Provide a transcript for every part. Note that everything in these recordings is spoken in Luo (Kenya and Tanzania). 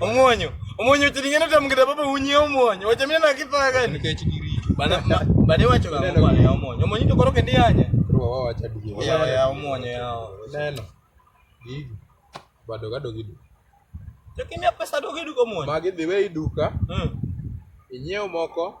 Omonyo, omonyo tilingana tamgida baba unye omonyo. Wacha mimi na kipa gani? Bana bana wacho kama kwa ya omonyo. Omonyo to koroke ndi anya. Kwa wao wacha dige. Ya ya omonyo ya. Neno. Dige. Bado gado gidu. Lakini pesa dogo gidu kwa omonyo. Magi dhiwe iduka. Mm. Inyeo moko.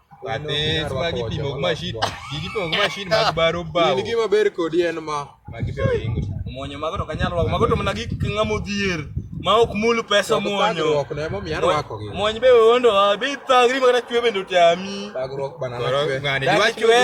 Ate magi pimo gi mashin. Gigi pimo gi mashin mag baro bao. Gigi maber kodi en ma. Magi pimo ingo. Omonyo mago to kanyal rwako. Mago to mana gik ng'amo dhier. Ma ok mul pesa omonyo. Omonyo be ondo wa. Bi thagri magana chwe bende otami. Thagruok bana na chwe. Ng'ani dwa chwe.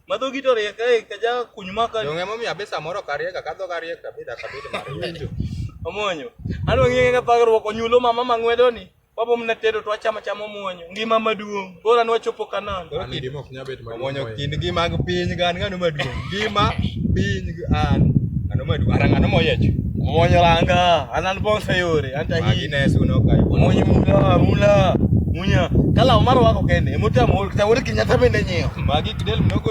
Madhogi to riek kae kaja kuny maka. Yo ng'emo mi abisa moro kariek akadho kariek kabida kabida mariek. Omonyo. Alo ng'enge ka thagruok onyulo mama mang'wedo ni. Wapo mna tedo to achama chama omonyo. Ngima maduong. Bora ni wachopo kanan. Ani dimo ok nyabet maduong. Omonyo kind ngima gi piny gan ngano maduong. Ngima piny an. Ngano maduong. Arang ngano moyech. Omonyo langa. Anan bonsa yore. Anta hi. Magi nesu no kai. Omonyo mula mula. Munya. Kala omaro wako kende. Emotamo. Kitawori kinyata bende nyeo. Magi kidel mnogo